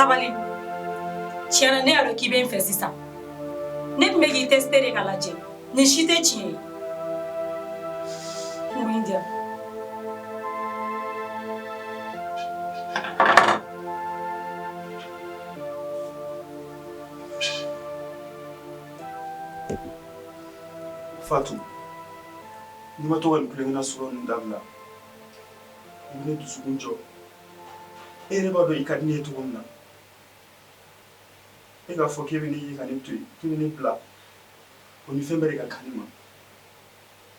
sabali tiɲɛna ne y'a dɔn k'i bɛ n fɛ sisan ne tun bɛ k'i tɛsite de k'a lajɛ nin si tɛ tiɲɛ ye kungo in diya Fatu, n'i ma to ka nin kulenkena sɔrɔ ninnu dabila, i bɛ ne dusukun jɔ. E yɛrɛ b'a dɔn i ka di ne ye cogo min na. E k'a fɔ k'e bɛ ne ye ka ne to yen, k'i bɛ ne bila, o ni fɛn bɛɛ de ka kan ne ma.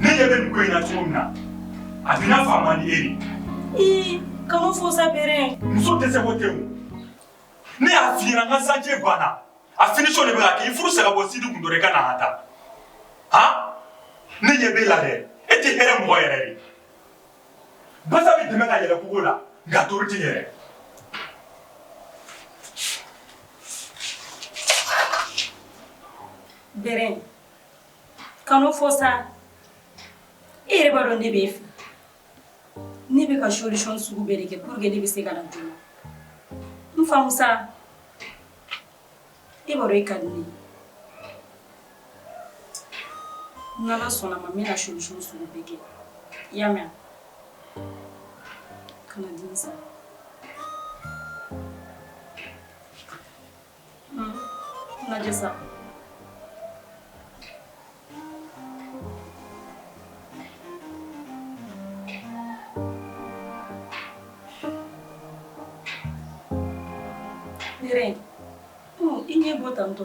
ne ɲɛ bɛ nin ko in na cogo min na a bɛna fa man di e de ii kan'o fɔ sa bɛrɛ muso dɛsɛ ko tɛ o ne y'a f'i ɲɛna n ka chantier banna a finition de bɛ ka kɛ i furu sa ka bɔ sidi kun dɔrɔn i ka na an ta han ne ɲɛ b'e la dɛ e tɛ hɛrɛ mɔgɔ yɛrɛ de basa bɛ dɛmɛ ka yɛlɛn kogo la nka ntori tɛ yɛrɛ bɛrɛ kan'o fɔ sa e yɛrɛ b'a dɔn ne bɛ e fɛ ne bɛ ka solution sugu bɛɛ de kɛ pour que ne bɛ se ka na joona n faamu sa e b'a dɔn e ka di ne ye n'Ala sɔnn'a ma n bɛna solution sugu bɛɛ kɛ i y'a mɛn wa kana dimi sa. lajɛ sa i ɲɛ bɔ tantɔ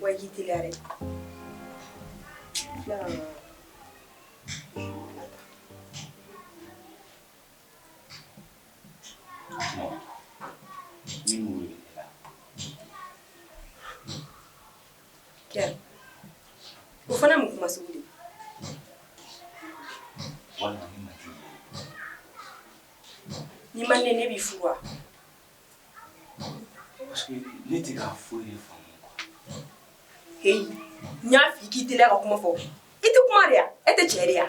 Wa k'i teliya dɛ o fana mun kuma sugu ni ma ne bɛ furu wa Ne tɛ ka foyi de faamu quoi heyi n y'a fɔ i ye k'i teliya ka kuma fɔ i tɛ kuma de wa e tɛ cɛ de ye wa.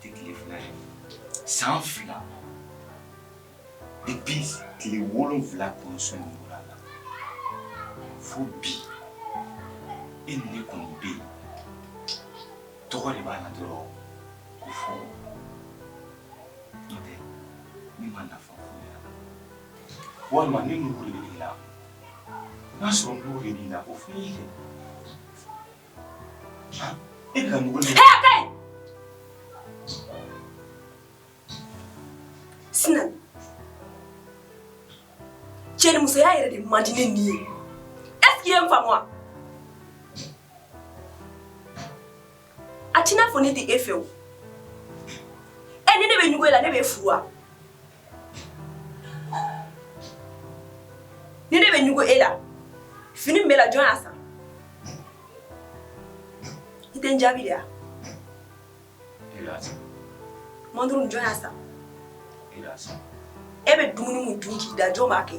tɛ tile fila ye san fila depuis tile wolonwula kɔnsɔn bɔra la fo bi e ni ne kɔni bɛ yen tɔgɔ de b'an na dɔrɔn ko furu n'o tɛ ne ma nafa foyi y'a la walima ne ɲugun de bɛ i la n'a sɔrɔ ɲugun de b'i la o fɔ n ye kɛ E ka mɔgɔ ni hɛɛ kɛ Sina cɛnimusoya yɛrɛ de man di ne ni ye est-ce que i ye n faamu wa a t'i n'a fɔ ne tɛ e fɛ o ɛ ni ne bɛ ɲugun e la ne b'e furu wa Ni ne bɛ ɲugu e la fini b'e la jɔn y'a san i tɛ jaabi yan moto jɔn y'a san e bɛ dumuni dun k'i da jɔn b'a kɛ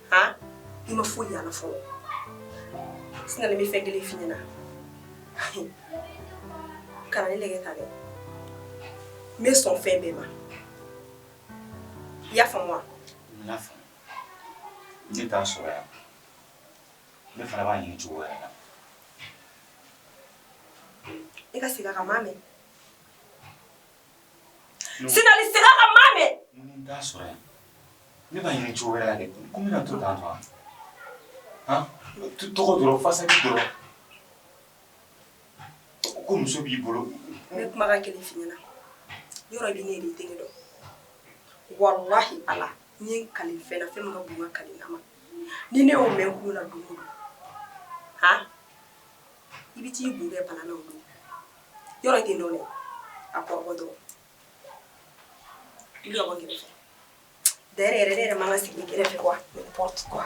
aa i ma foyi y'a la fɔlɔ sina ne bɛ fɛn kelen f'i ɲɛna kana ne lɛgɛ ta dɛ n bɛ sɔn fɛn bɛɛ ma i y'a faamu wa n y'a faamu ne t'a sɔrɔ yan ne fana b'a ɲini cogo wɛrɛ la i ka segin a kan n m'a mɛn Sinali segin a kan n m'a mɛn ne b'a ɲini cogo wɛrɛ ko bɛna to taa faga tu tɔgɔ dɔrɔn façade dɔrɔn ko muso b'i bolo ne bɛ kuma kelen f'i ɲɛna yɔrɔ bɛ ne denkɛ dɔn walayi Ala n ye kali fɛn na fɛn min ka bon kali na ma ni ne y'o mɛn kun na dugu h i bɛ t'i kun bɛɛ bana yɔrɔ kɛ dɔ a kɔ dɔrɔn da yɛrɛ yɛrɛ ma sigi kɛrɛfɛ fɛ kuwa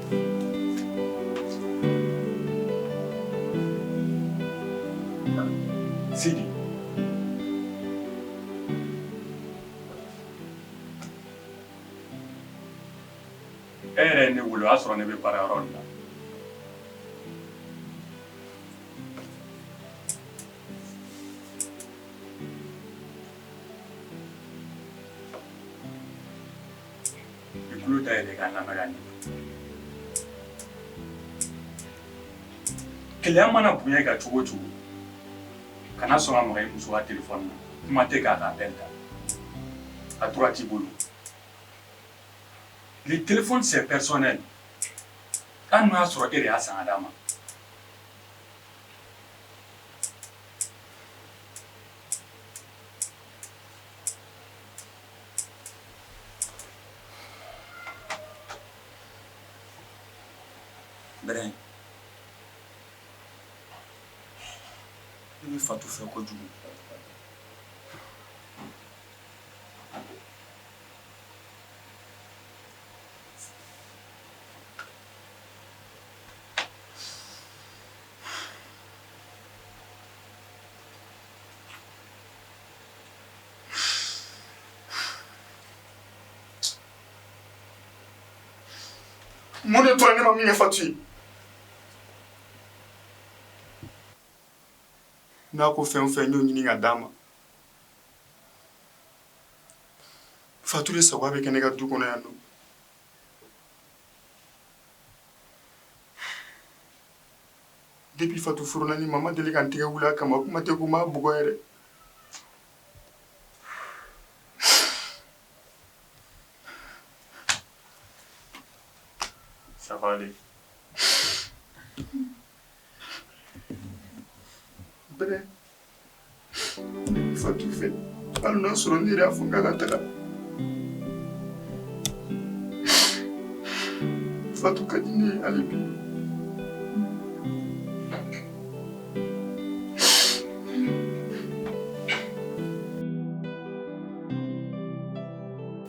E yɛrɛ ne wolo y'a sɔrɔ ne bɛ baara yɔrɔ la Kɛlɛ mana bonya ka cogo cogo kana sɔrɔ a ma i muso tɛ kuma tɛ k'a ka bɛn ta a tora t'i bolo ni tɛ sɛɛ an y'a sɔrɔ e y'a san d'a ma Bɛrɛ i bɛ fatu fɛ kojugu mun de tora ne ma min kɛ fatu ye n'a ko fɛn o fɛn n y'o ɲini ka d'a ma fatu de sago bɛ kɛ ne ka du kɔnɔ yan nɔ Depuis Fatou furula ne ma, n ma deli ka n tɛgɛ wuli a kama, kuma tɛ ko n b'a bugɔ yɛrɛ. Ça va aller . Bɛrɛ. Fatu fɛ hali n'a sɔrɔ n yɛrɛ y'a fɔ k'a ka taga Fatu ka di ne ye hali bi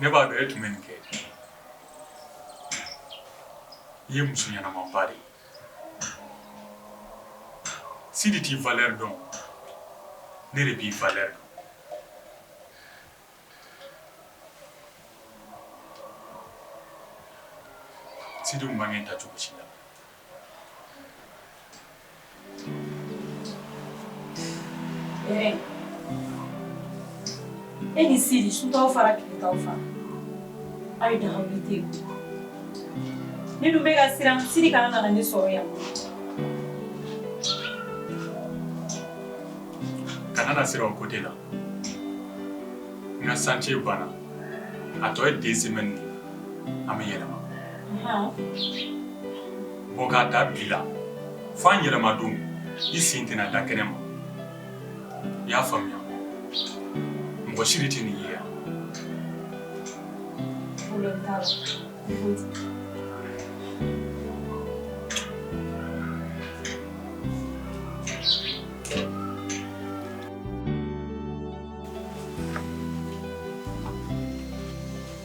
Ne b'a dɔn e tun bɛ nin kɛ i ye muso ɲɛnamaba de ye sidi t'i valeur dɔn ne de b'i valeur dɔn sidi tun man kan k'i ta cogo si la e ni sidi sutaw fara kilitaw fara aw ye dagawu te ne dun bɛ ka siran sidi kana nana ne sɔrɔ yan kana na siran o côté la n ka sance banna a tɔ ye deux semaines an bɛ yɛlɛma bɔ k'a ta bi la fo an yɛlɛma don i sen tɛna da kɛnɛ ma i y'a faamuya mɔgɔ si de tɛ nin ye yan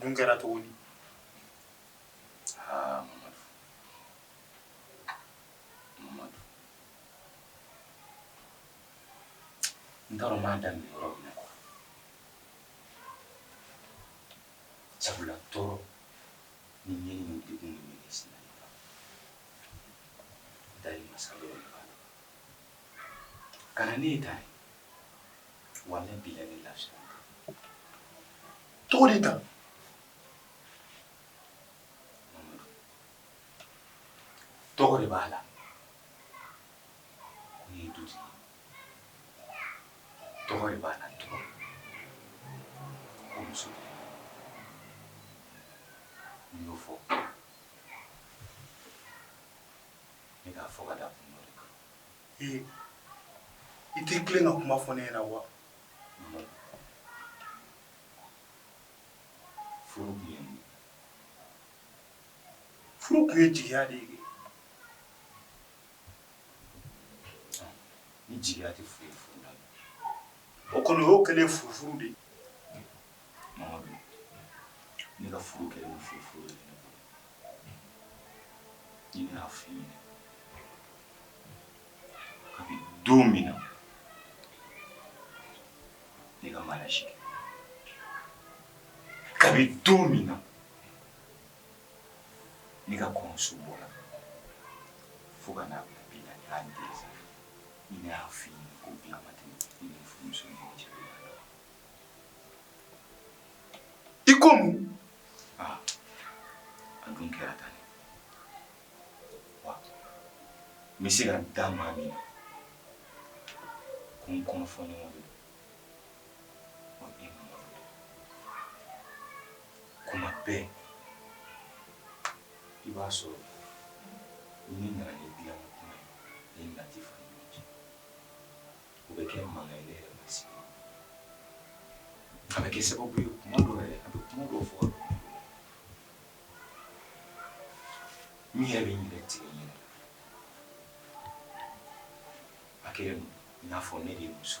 dun kɛra cogo di aa mamadu mamadu n t'a dɔn n b'a daminɛ yɔrɔ min na quoi sabula tɔɔrɔ ni ɲɛni ni degun min bɛ ne sinna nin kan daali masa Ala de b'a la Ka na ne ye ta walayi bilayi lazi tɔgɔ de ta tɔgɔ de b'a la tɔgɔ de b'a la tɔgɔ muso n y'o fɔ ne k'a fɔ ka da kun dɔ de kan i tɛ tilen ka kuma fɔ ne na wa furu kun ye jigiya de ye ni jigiya tɛ foyi furu la o kɔni o kɛlen furufuru de ne ka furu kɛlen furufuru de y'a f'i ye kabini don min na ne ka mariage kabini don min na ne ka kɔɲɔso bɔra fo ka n'a bila bi la y'a dɛsɛ ne y'a f'i ye ko diya ma tɛmɛ ne ni furumuso ɲɔgɔn cɛ i ko mun ah, a dun kɛra tan ne wa n bɛ se ka da maa min na ka n kɔnɔ fɔ ɲɔgɔn de o ye mamadu de kuma bɛɛ i b'a sɔrɔ n'i nana ni dilanko kuma ye ni nati fana o bɛ kɛ mankanba ye ne yɛrɛ ma sigi a bɛ kɛ sababu ye kuma dɔ yɛrɛ a bɛ kuma dɔ fɔ n yɛrɛ bɛ yɛrɛ tigɛ ɲɛ a kɛra i n'a fɔ ne de ye muso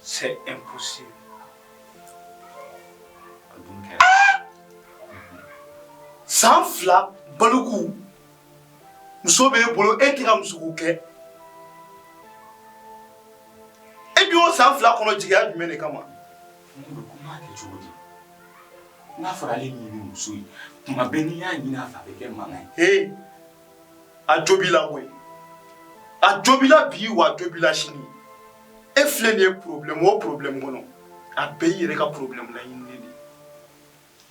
C'est impossible. San fila baloku muso bɛ e bolo e tɛ ka musoko kɛ e bɛ o san fila kɔnɔ jigiya jumɛn de kama bɛ kuma kɛ cogo di. N'a fɔra ale ɲini muso ye tuma bɛɛ n'i y'a ɲini a fɛ a bɛ kɛ mankan ye. a jo b'i la koyi a jo b'i la bi wa a jo b'i la sini e filɛ nin ye problème o problème kɔnɔ a bɛɛ y'i yɛrɛ ka problème laɲininen de ye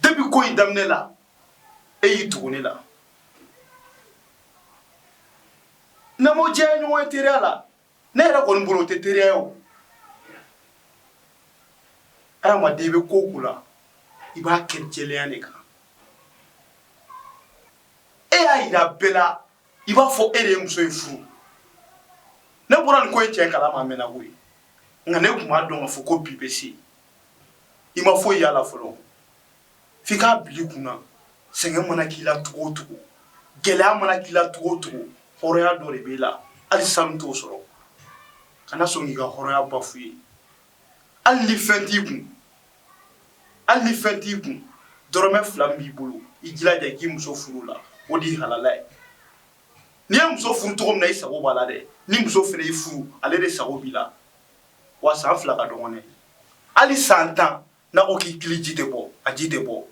depuis ko in daminɛ la e y'i tugu ne la n'an ko diya ye ɲɔgɔn ye teriya la ne yɛrɛ kɔni bolo tɛ teri ye o adama i bɛ ko o ko la i b'a kɛ jɛlenya de kan e y'a jira bɛɛ la i b'a fɔ e de ye muso in furu ne bɔra nin ko e cɛ kalama a mɛnna koyi nka ne tun b'a dɔn ka fɔ ko bi bɛ se i ma foyi y'a la fɔlɔ f'i k'a bila i kun na sɛgɛn mana k'i la cogo o cogo gɛlɛya mana k'i la cogo o cogo hɔrɔnya dɔ de b'i la hali sanu t'o sɔrɔ kana sɔn k'i ka hɔrɔnya bafouer hali ni fɛn t'i kun hali ni fɛn t'i kun dɔrɔmɛ fila min b'i bolo i jilaja i k'i muso furu o la o de ye halala ye n'i ye muso furu cogo min na i sago b'a la dɛ ni muso fana y'i furu ale de sago b'i la wa san fila ka dɔgɔn dɛ hali san tan N'a ko k'i kili ji tɛ bɔ, a ji tɛ bɔ,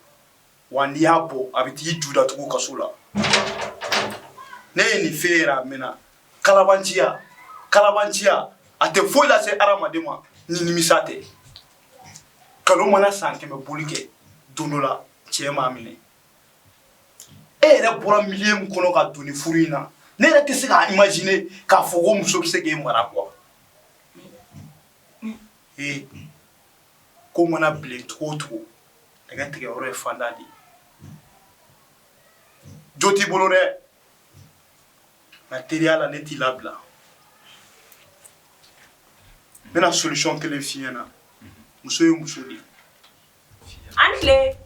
wa n'i y'a bɔ, a bɛ t'i ju datugu kaso la. Ne ye nin f'e ɲɛna a mɛnna. Kalabanciya, kalabanciya, a tɛ foyi lase hadamaden ma ni nimisa tɛ. Kalon mana san 100 boli kɛ, don dɔ la, cɛn b'a minɛ. E yɛrɛ bɔra milieu min kɔnɔ ka don nin furu in na, ne yɛrɛ tɛ se k'a imaginer k'a fɔ ko muso bɛ se k'e mara quoi ee! ko mana bilen cogo o cogo nɛgɛ tigɛ yɔrɔ ye fanda de ye jo t'i bolo dɛ nka teriya la ne t'i labila n bɛna solution kelen f'i ɲɛna muso ye muso de ye an tile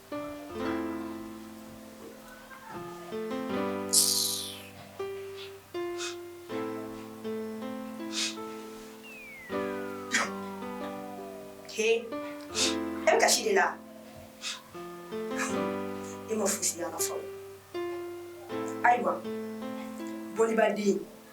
He, e bɛ kasi de la? E ma fosi y'a la fɔlɔ. Ayiwa, bolibaden